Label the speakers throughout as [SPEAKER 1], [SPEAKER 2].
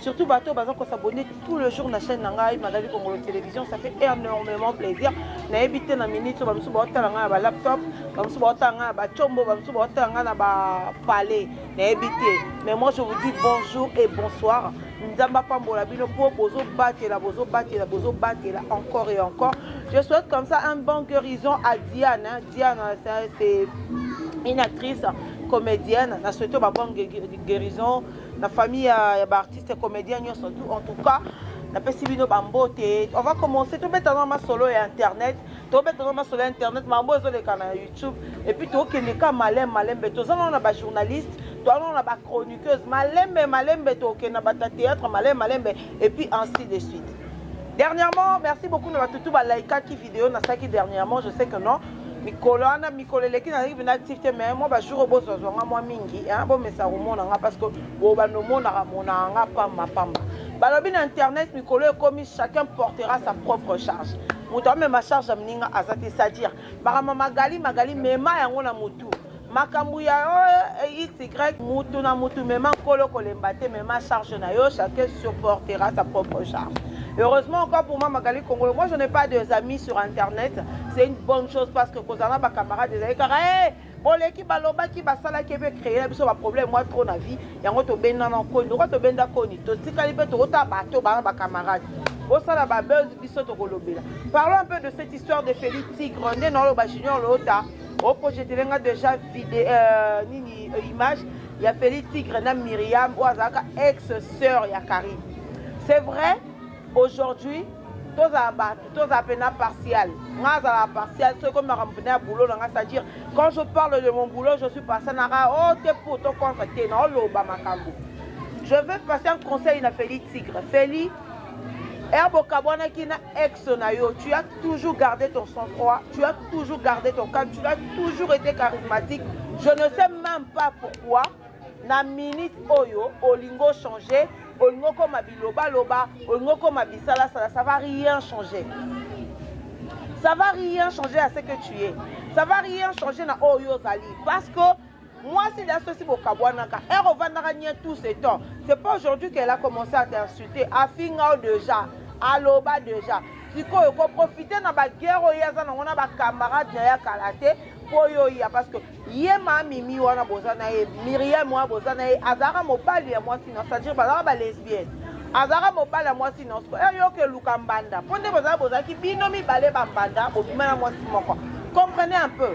[SPEAKER 1] Surtout bato baza ko s'abonner tout le jour na chaîne na ngai Magali Kongolo Télévision, ça fait énormément plaisir. Na yebi te na minute ba musu ba tala ngai na ba laptop, ba musu ba tala ngai na ba chombo, ba musu ba tala ngai na ba palais. Na yebi te. Mais moi je vous dis bonjour et bonsoir. nzambe apambola bino mpo bozobatela bozobatela bozobatela encore et encore je souhaite comme ça un bon guérison à diane hein. diane c'est une actrice comédienne na souhaite ba bonne guérison na famille ya, ya baartiste comédien nyonso tout en tout cas napesi bino bambote on va commencer tobetana masolo ya internet tobetana masolo ya internet mambo ezoleka na youtube epuis tokende ka malem malembe toza nao na bajournaliste toza nao na bachroniqueuse malembe malembe tokende na bata théâtre malembe malembe epuis ainsi de suite dernièrement merci beaucoup na batutu balaikaki video na saki dernièrement je sais que non mikolo wana mikolo eleki nazalaki mpena active te mais mwa bajour oyo bozwazwa nga mwa mingi bomesa komona nga parce que bobanda omonaka monaka nga pamba pamba balobi na internet mikolo ekomi chacun portera sa propre charge moto amema charge ya moninga aza te c'est-à-dire makambo magali magali mema yango na motu makambo ya xy mutu na mutu mema nkolo kolemba te mema charge na yo chacun supportera sa propre charge heureusement encore pour moi magali kongolo moi je n'ai pas des amis sur internet c'est une bonne chose parce que kozala na bacamarade ezali kaka hey, boleki balobaki basalaki mpe créer na biso baproblème mwa trop na vie yango tobenda na koni lokola tobenda koni totikali mpe tokota bato bana bacamarade bosala babese biso tokolobela parlons un peu de cette histoire de feli tigre nde naoloba junior loota o projetele nga deja vide euh, nini euh, image ya feli tigre na miriam oyo azalaka ex sœur ya carine c'est vrai aujourd'hui tozala bato tozala mpena partial nga azala partial soki ekomi makambo mpena ya boulot na nga c'est-à-dire quand je parle de mon boulot je suis partial naka o oh, te pour to contre te naoloba makambo je veux passer un conseil na feli tigre feli Herbe okabwanaki na ex na yo, tu as toujours gardé ton sang-froid, tu as toujours gardé ton calme, tu as toujours été charismatique. Je ne sais même pas pourquoi na minute oyo olingo changer, olingo koma biloba loba, olingo koma bisala sala, ça va rien changer. Ça va rien changer à ce que tu es. Ça va rien changer na oyo ozali parce que Mwasi da sosi bokabwanaka. Ero vandaka nye tout ce temps. C'est pas aujourd'hui qu'elle a commencé à t'insulter. Afinga déjà. Aloba déjà. sikoyo koprofite na bagere oyo aza nango na bacamarade na ye ya kala te mpo yo oya parce que ye maa mimi wana boza na ye miriam wana boza na ye azalaka mobali ya mwasi na c'est-à-dire bazalaka balesbienne azalaka mobali ya mwasi na siko eyoka eluka mbanda mpo nde bozala bozalaki bino mibale bambanda bobima na mwasi moko comprenez un peu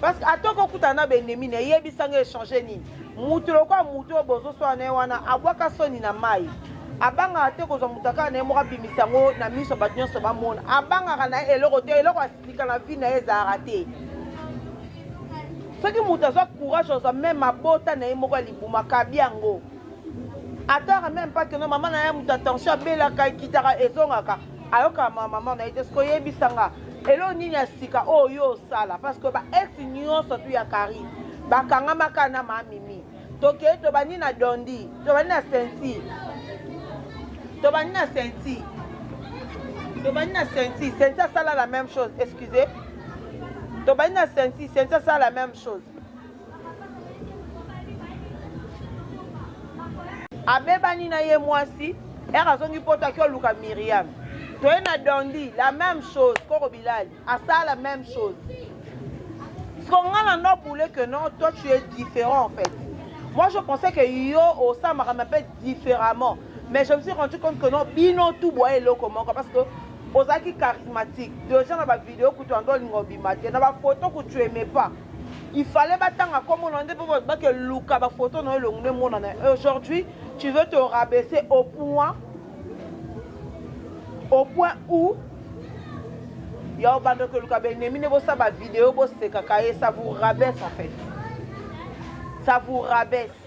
[SPEAKER 1] parce que ata okokutana na baennemi na eyebisa nga echange nini moto lokola moto oyo bozoswana na ye wana abwaka soni na mai abangaka te kozwa moto akaka na ye moko abimisa yango na miso ya bato nyonso bamona abangaka na ye eloko te eloko asilika na vi na ye ezalaka te soki moto azwa courage azwa meme abota na ye moko ya libuma kabi yango ataka meme pakeno mama na ye moto ya tension abelaka ekitaka ezongaka ayoka ma maman na ye te soki oyebisa nga eloo nini ya sika oyo oh, yo osala parce que ba ex nyonso tu ya kari bakangamaka na mamimi tokei tobandi na dondi tobandi na senti tobandi na senti tobandi na senti senti asala la même chose excusez tobandi na senti senti asala la même chose abebani na ye mwasi ere azongi poto aki oluka miriam toye na dondi la même chose koko bilali asala la même chose skonga na no boule que non toi tu es différent en fait moi je pensais que yo osamaka ma pe différemment mais je me suis rendu compte que non bino tout boye eloko moko parce que ozalaki charismatique deja na bavideo kutu ando olinga obima te na bafoto kutu aime pas Il fallait batanga kombo na nde po ba ke luka ba photo na yo elongi nde monana. Aujourd'hui, tu veux te rabaisser au point au point où ya obanda koluka ba ennemi nde bosala ba video bosekaka ye ça vous rabaisse en fait. Ça vous rabaisse.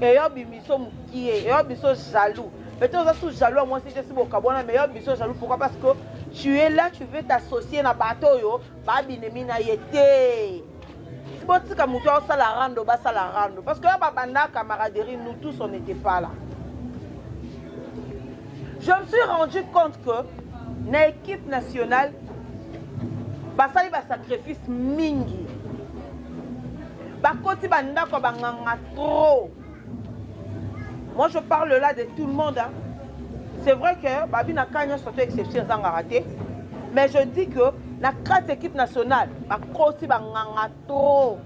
[SPEAKER 1] eyo bimiso mukie eyo biso jaloux peut-être oza sous jaloux ya mwasi te si bokabwana mais eyo biso jaloux pourquoi parce que tu es là tu veux t'associer na bato oyo babinemi na ye te si botika motu aosala rando basala rando parce que oyo babanda camaraderie nous tous on n'était pas là je me suis rendu compte que na équipe nationale basali basacrifice mingi bakoti ba ndako ya banganga trop moi je parle là de tout le monde hein. c'est vrai que babi na ka nyonso to exception ezangaka te mais je dis que na kati équipe nationale bakosi banganga trop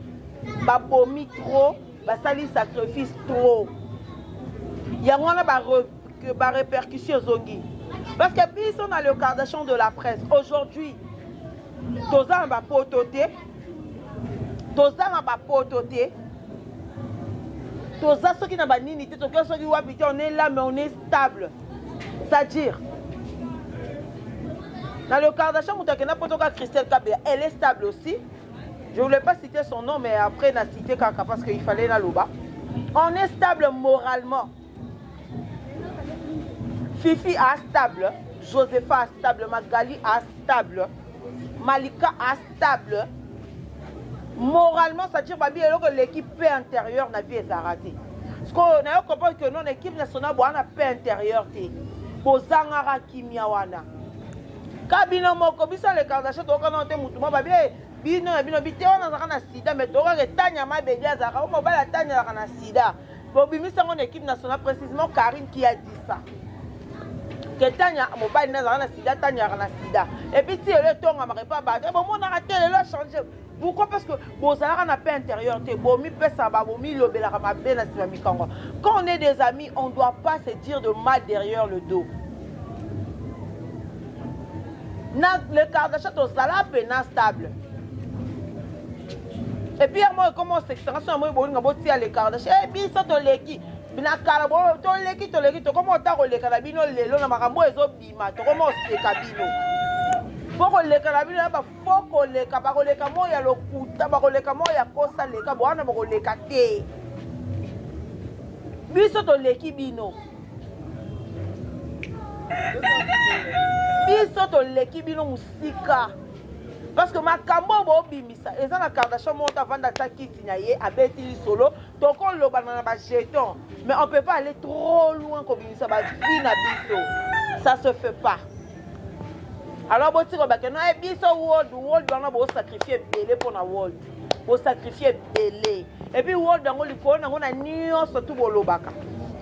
[SPEAKER 1] babomi trop basali sacrifice trop yango wana barépercussion ezongi parce que biso na le cardation de la presse aujourd'hui toza na bapoto te tozanga ba poto te toza soki na banini te tokoki soki wapi te on est là mais on est stable c'est-à-dire na le kardashan moto akenda poto ka christelle kabela elle est stable aussi je voulais pas citer son nom mais après na cite kaka parce que il fallait naloba on est stable moralement Fifi a stable, Josepha a stable, Magali a stable, Malika a stable. Moralement, ça tire babi eloko eleki paix intérieure na vie ezara te. Sikoyo nayo comprendre que non équipe nationale bwana paix intérieure te. Bozangaka kimia wana. Ka bino moko biso les Kardashian toyoka nao te mutu moko babi eh, bino na bino bite wana azalaka na sida mais toyokaka etanya mabedi azalaka o mobali atanyalaka na sida Bobimisa ngo na equipe nationale précisément Karine qui a dit ça. Que Tanya mobali na zala na sida Tanya na sida. Et puis ti le tonga ma repa ba. Bon mon arrêté le a changé. Pourquoi parce que bozalaka na paix intérieure te bomi pesa ba bomi lobelaka mabe na sima mikango. Quand on est des amis, on doit pas se dire de mal derrière le dos. Na le Kardashian tozala pe na stable. Et puis moi comment c'est ça ça moi bolinga boti à l'écart de chez biso to leki na kala bo to leki to leki to comment ta koleka na bino lelo na makambo ezo bima to comment c'est ka bino po koleka na bino ba fo koleka ba koleka mo ya lokuta ba koleka mo ya kosa leka bo wana ba koleka te biso to leki bino biso to leki bino musika parce que makambo oyo bobimisa eza na kardashian moko avanda ata kiti na ye abeti lisolo tokolobana na bajeton mais on peut pas aller trop loin kobimisa bavi na biso ça se fait pas alors botika bake no e biso world world wana bosacrifie ebele mpo na world bosacrifie ebele epuis world yango likolo nango na nyonso tu bolobaka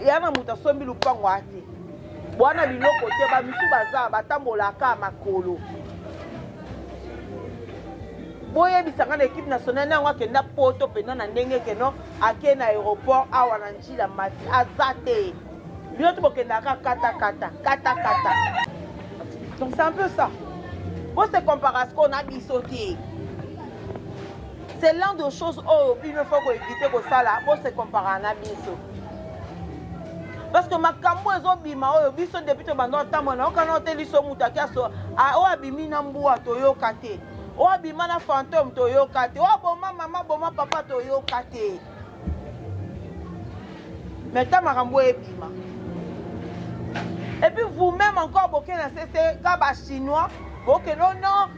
[SPEAKER 1] ya na moto asombi lupango ate Bwana biloko te ba misu baza batambolaka makolo. boyebisa ngai na ekipe nationale yango akenda poto mpenza na ndenge keno ake na aéroport awa na njila mati aza te bino to bokendaka katakata katakata donc c'est un peu ça bose comparasco na biso te C'est l'un de choses oyo bino faut ko éviter kosala bo se comparer na biso. Parce que makambo ezobima oyo biso depuis tobanda otambola na yokana ote liso moto ake aso oyo abimi na mbua toyoka te oyo abima na fantome toyoka te oyo aboma mama boma papa toyoka te mais ta makambo oyo ebima epuis vous-même encore bokei na sese ka bachinois bokende oh non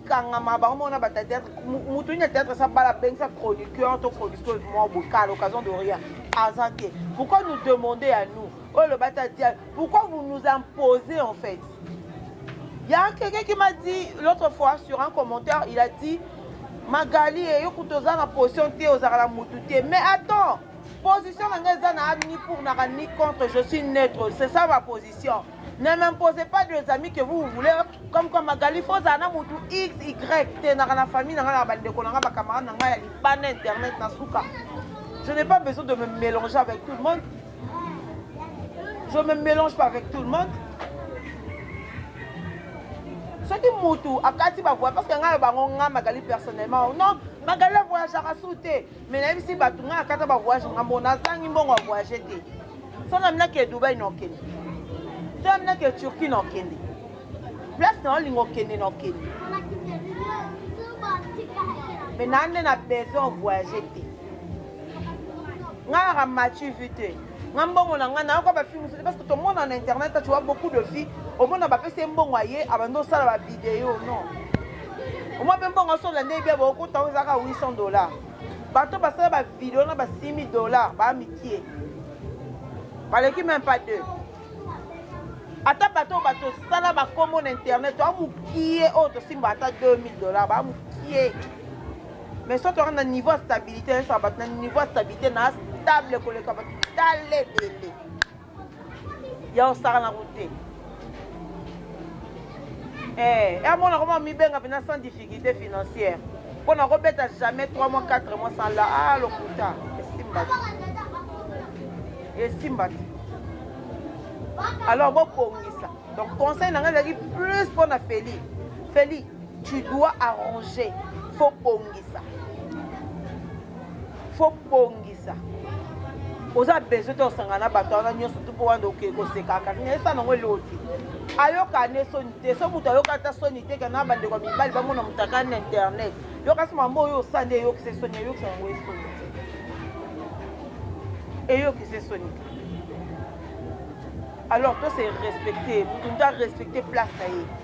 [SPEAKER 1] kangama bango moko na ba theatre mutu nini theatre sa bala bengisa chroniqueur to chroniqueuse mwa boka à l'occasion de rien aza te pourquoi nous demander à nous oyo loba ta tia pourquoi vous nous imposez en fait il y a quelqu'un qui m'a dit l'autre fois sur un commentaire il a dit magali eyo kutu oza na position te ozalaka na mutu te mais attends position na ngai eza na ni pour naka ni contre je suis neutre c'est ça ma position Ne m'imposez pas des amis que vous voulez, comme quoi Magali faut ozala na mutu x y te naka na famille na ngai na bandeko na ngai bacamarade na ngai ya libanda internet na suka je n'ai pas besoin de me mélanger avec tout le monde je me mélange pas avec tout le monde soki mutu akati bavoya parce que ngai na bango ngai magali personnellement non magali avoyageaka su te Mais nayebisi bato ngai akata ba voyage nga mbo nazangi mbongo ya voyage te so naminaki ya dubai na okende so naminaki ya turquie na okende place na olinga okende na okende mais naa nde na besoin voyage te ngai naka mati vu te nga mbongo na nga nayoka ba films te parce que tomona na internet tu vois beaucoup de filles omona bapesi ye mbongo aye abandi osala ba video non omwa mpe mbongo aso olanda ye bia baokota yango ezalaka 800 dollar bato basala ba video na ba 6000 dollar baa mikie baleki même pas deux ata bato oyo bato osala bakombo na internet baa mokie oyo tosimba ata 2000 dollar baa mokie mais soki toza na niveau ya stabilité nayosa bato na niveau ya stabilité na stable koleka bato tala ebele ya osaka na kote eh, ya mona koma mibenga mpena sans difficulté financière mpo na kobeta jamais 3 mois 4 mois sans la ah lokuta esimba te esimba te alors bobongisa donc conseil na ngai ezalaki plus mpo na feli feli Tu dois arranger faut bongisa faut bongisa oza besoin te osangana na bato wana nyonso tu mpo wana oke kosekaka nayesa nango eloti ayoka ne soni te so moto ayoka ata soni te kana bandeko ya mibali bamona moto aka na internet yokasi mambo oyo osa nde eyokisa esoni eyokisa yango esoni te eyokisa esoni te alors to se respecte moto nde arespecte place na ye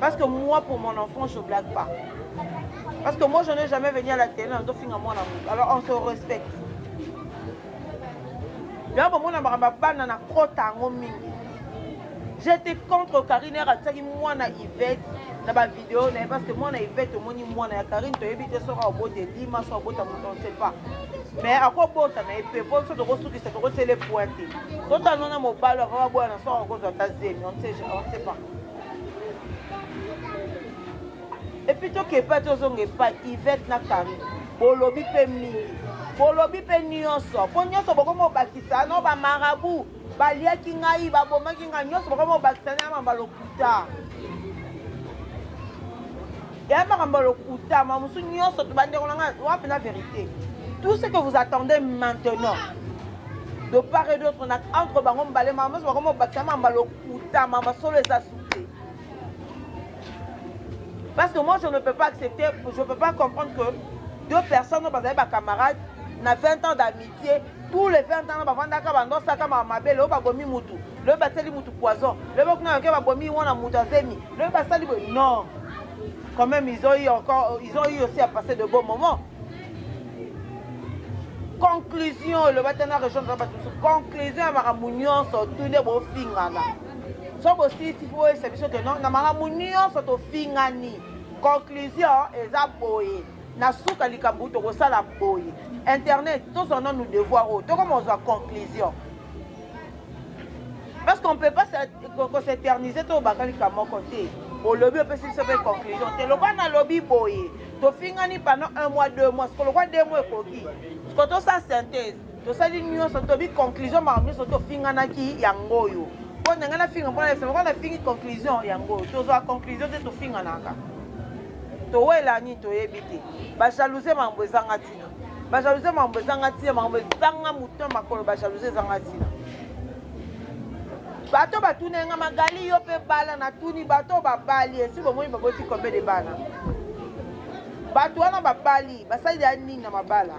[SPEAKER 1] Parce que moi, pour mon enfant, je blague pas. Parce que moi, je n'ai jamais venu à la télé, on doit finir mon amour. Alors, on se respecte. Là, bon, mon amour, ma banne, on a trop tango mingi. J'étais contre Karine, elle a dit, moi, na Yvette, na ba vidéo, na parce que moi, na Yvette, moi, ni moi, na Karine, tu as évité, sera au bout de Lima, sera au bout de Mouton, on ne sait pas. mais akobota na epe mpo biso tokosukisa tokotele pointe totanona mobali akaka boya na soko akozwa ata zemi on ne sait pas epuis toke epai tozonga epai ivete na carine bolobi mpe mingi bolobi mpe nyonso mpo nyonso bokomi kobakisa no bamarabu baliaki ngai babomaki ngai nyonso bokomi kobakisa na makambo ya lokuta ya makambo ya lokuta ma mosusu nyonso tobandeko na ngai wapi na verité tout ce que vous attendez maintenant de part et d'autre entre bango mibale makambo nyonso bakomi kobakisa na makambo ya lokuta Uta mama solo eza souple. Parce que moi je ne peux pas accepter, je ne peux pas comprendre que deux personnes oyo bazali bacamarade na 20 ans d'amitié tous les 20 ans bavandaka bandosaka mamabe lelo babomi mutu lelo basali mutu poison lelo bakuna yoke babomi wana mutu azemi lelo basali boye non quand même ils ont eu encore ils ont eu aussi à passer de beaux moments conclusion olobi ata na rejoindre na bato mosusu conclusion ya makambo nyonso tu nde bofingana so bosilisi mpo oyebisa biso ke no na makambo nyonso tofingani conclusion eza boye na suka likambo tokosala boye internet tozwa nanu devoir oyo tokoma kozwa conclusion parce qu'on peut pas koseterniser tobaka likambo moko te olobi opesi biso mpe conclusion te lokola nalobi boye tofingani pendant un mois deux mois siko lokola deux mois ekoki siko tosala synthèse tosali nyonso tobi conclusion makambo nyonso tofinganaki yango oyo mpo ndenge nafinga mpo nayebisa lokola nafingi conclusion yango oyo tozwa conclusion te tofinganaka towelani toyebi te bajalousie makambo ezanga ti Ba jalousie makambo ezanga tina, makambo ezanga moto makolo, ba jalousie ezanga tina. Bato batuna nga magali yo pe bala na tuni bato babali esi bomoni baboti combien de bana? Bato wana babali basali ya nini na mabala?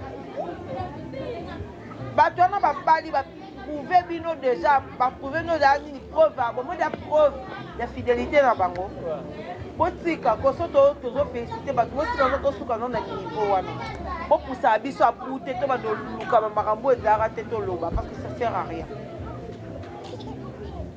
[SPEAKER 1] Bato wana babali ba prouve bino deja baprouve bino ozala nini preuve yango moda preuve ya fidelité na bango botika koso tozofélicité bato botika yango tosuka no na niveau wana bopusaka biso abu te to bando lukama makambo ezalaka te toloba parce que ça sert à rien